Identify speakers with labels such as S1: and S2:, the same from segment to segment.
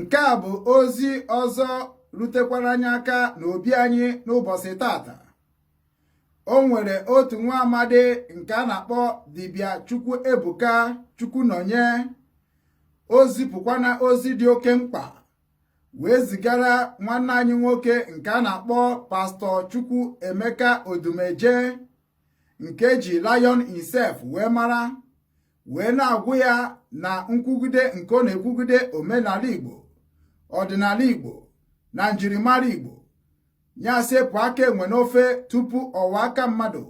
S1: nke a bụ ozi ọzọ rutekwara anyị aka n'obi anyị n'ụbọsị tata o nwere otu nwa amadi nke a na-akpọ dibịa Chukwu Ebuka Chukwunọnye o zipụkwana ozi dị oke mkpa wee zigara nwanne anyị nwoke nke a na-akpọ pastọ Chukwu Emeka Odumeje nke e ji Lion Himself wee mara wee na-agwa ya na nkwugide nke ọ na-ekwugide omenala Igbo ọdịnala Igbo na njirimara Igbo nya sepụ aka enwe n'ofe tupu ọ wọọ aka mmadụ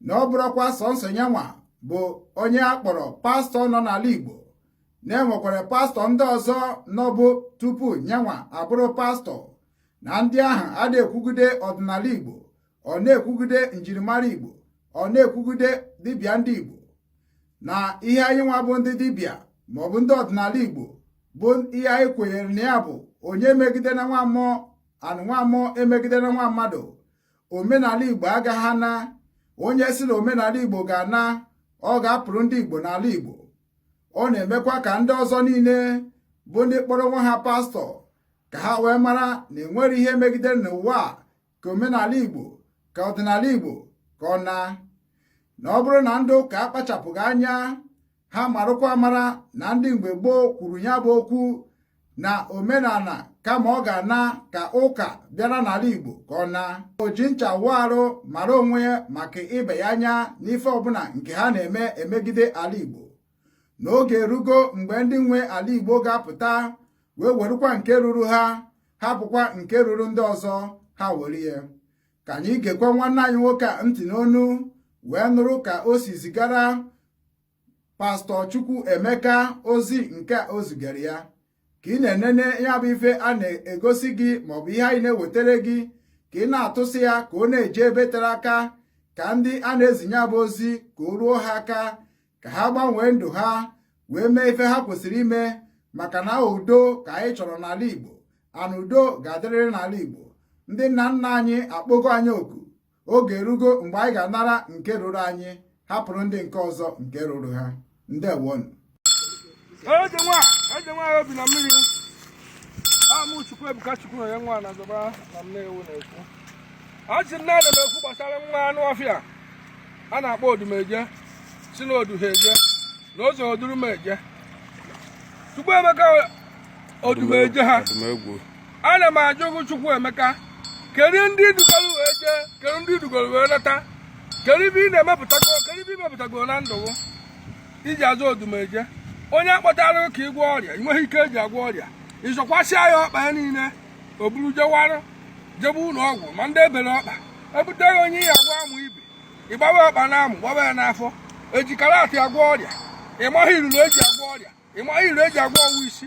S1: na ọ bụrọkwa sọnsọ nyanwa bụ onye a kpọrọ pastọ nọ n'ala Igbo na e nwekwara pastọ ndị ọzọ nọbu tupu nyanwa abụrụ pastọ na ndị ahụ ada ekwugide ọdịnala Igbo ọ na-ekwugide njirimara Igbo ọ na-ekwugide dibịa ndị Igbo na ihe anyị nwa bụ ndị dibịa maọbụ ndị ọdịnala Igbo bụ ihe anyị kwenyere na ya bụ onye emegidena nwa mmụọ and nwa mmụọ emegidena nwa mmadụ omenala igbo agaghị ana onye si na omenala igbo ga-ana ọ ga-apụrụ ndị igbo n'ala igbo ọ na-emekwa ka ndị ọzọ niile bụ ndị kpọrọ onwe ha pastọ ka ha wee mara na enwerọ ihe e megidere n'ụwa ka omenala igbo ka ọdịnala igbo ka ọ naa na ọ bụrụ na ndị ụka akpachapụghị anya ha marụkwa amara na ndị mgbe gboo kwuru nya bụ okwu na omenala kama ọ ga-ana ka ụka bịara n'ala Igbo ka ọ naa o ji ncha wụọ arụ mara onwe ya maka ịba ya anya n'ife ọbụla nke ha na-eme emegide ala Igbo na oge erugo mgbe ndị nwe ala Igbo ga-apụta wee werukwa nke ruru ha hapụkwa nke ruru ndị ọzọ ha were ya ka anyị gekwa nwanne anyị nwoke a ntị n'ọnụ wee nụrụ ka o si zigara pastọ Chukwu Emeka ozi nke o zigara ya ka ị na-enene ya bụ ife a na-egosi gị maọbụ ihe anyị na-ewetara gị ka ị na-atụsa ya ka ọ na-eje ebe tere aka ka ndị a na-ezi nya bụ ozi ka o ruo ha aka ka ha gbanwee ndụ ha wee mee ife ha kwesịrị ime maka na udo ka anyị chọrọ n'ala Igbo and udo ga-adịrịrị n'ala Igbo ndị nna nna anyị akpọgo anyị oku oge erugo mgbe anyị ga-anara nke ruru anyị hapụrụ ndị nke ọzọ nke ruru ha ndewonụ eze
S2: nwa eze nwa obi na mmiri amụ chukwu ebuka chukwu na ya nwa na zọba na Nnewi na-ekwu a sị na ana m ekwu gbasara nwa anụ ọfịa a na-akpọ odumeje si na odu ha eje na ụzọ oduru m eje chukwu emeka odumeje ha ana m ajụ gị chukwu emeka kedu ndị dugoro wee jee kedu ndị dugoro wee lọta kedu ibe ị na-emepụtago kedu ibe ị mepụtago na ndụ gị iji azụ odumeje onye akpọtara ka ịgwọ ọrịa ị nweghị ike eji agwọ ọrịa ịzọkwasịa ya ọkpa ya niile o buru jewara jebe ụlọ ọgwụ ma ndị ebere ọkpa ebute ya onye ị ya agwọ amụ ibi ịgbaba ọkpa na amụ gbaba ya n'afọ eji karate agwọ ọrịa ịmaghị iruru eji agwọ ọrịa ịmaghị iruru eji agwọ ọgwụ isi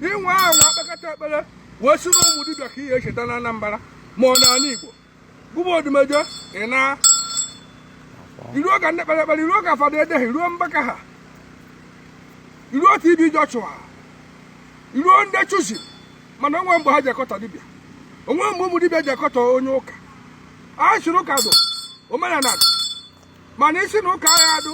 S2: inwe ahụ nwa akpakọta ekpere wee si na ụmụ dibịa ka ihe echeta na Anambra ma ọ n'ala Igbo gụ bụ odumeje ị na iruo ka ndị kpere ekpere iruo ka fada Edeh iruo mbaka ha iruo TB Joshua iruo ndị Chosen mana onwe mgbe ha ji akọtọ dibịa onwe mgbe ụmụ dibịa ji akọtọ onye ụka a sịrị ụka dụ omenala dụ mana ị sị na ụka ya adụ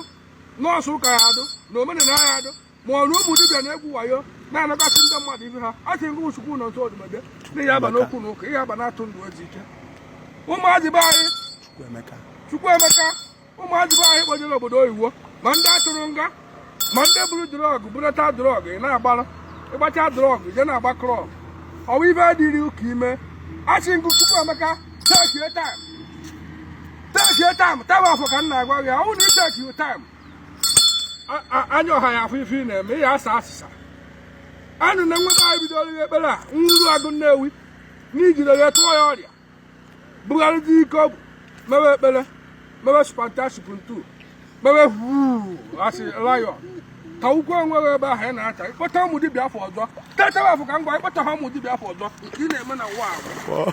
S2: nọọsọ ụka ya adụ na omenala ya adụ ma ọ na ụmụ dibịa na-egwu wayo na-anakọsị ndị mmadụ ibe ha a sị ngụ chukwu nọ nso odumeje na ị ya aba n'okwu na ụka ị ya aba na-atụ ndụ ozi ike ụmụazị be anyị chukwu emeka ụmụazị be anyị kpọjere obodo oyibo ma ndị atụrụ nga ma ndị buru drug burata drug ị na-agbara ịgbacha drug je na-agba club ọwa ibe adịrị ụka ime a sị ngụ chukwu emeka tekie time tekie time time afọ ka m na-agwa gị ọwụ na itekiu time anya ọha ya afụ ife ị na-eme ị ya asa asịsa anụ na nweta anyị bidoro ihe ekpere a nwuru agụ nnewi n'ijide ya tụọ ya ọrịa bugharịta ike ọ bụ mewe ekpere mewe spantasip ntu mewe huu asị lion ka ukwu enweghị ebe ahụ ị na-acha ịkpọta ụmụ dibịa afa ọzọ tetara afọ ka m gwa ịkpọta ha ụmụ dibịa afa ọzọ ka ị na-eme na ụwa ahụ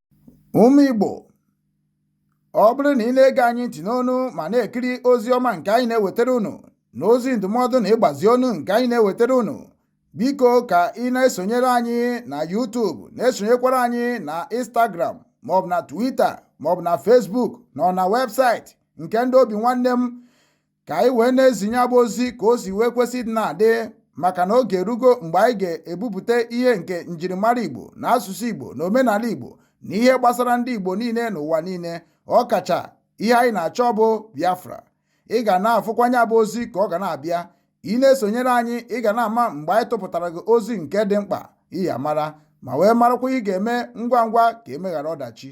S1: ụmụ Igbo ọ bụrụ na ị na-ege anyị ntị n'onu ma na-ekiri ozi ọma nke anyị na-ewetara unu na ozi ndụmọdụ na ịgbazi ọnụ nke anyị na-ewetara unu biko ka ị na-esonyere anyị na YouTube na-esonyekwara anyị na Instagram maọbụ na Twitter maọbụ na Facebook na na website nke ndị Obinwannem ka anyị wee na-ezi nya bụ ozi ka o si wee kwesị ịdị na-adị maka na oge erugo mgbe anyị ga-ebupụta ihe nke njirimara Igbo na asụsụ Igbo na omenala Igbo na ihe gbasara ndị Igbo niile n'ụwa niile ọ kacha ihe anyị na-achọ bụ Biafra ị ga na-afụkwa nya bụ ozi ka ọ ga na-abịa ị na-esonyere anyị ị ga na-ama mgbe anyị tụpụtara gị ozi nke dị mkpa ị ya amara ma wee marakwa ihe ị ga-eme ngwa ngwa ka emeghara ọdachi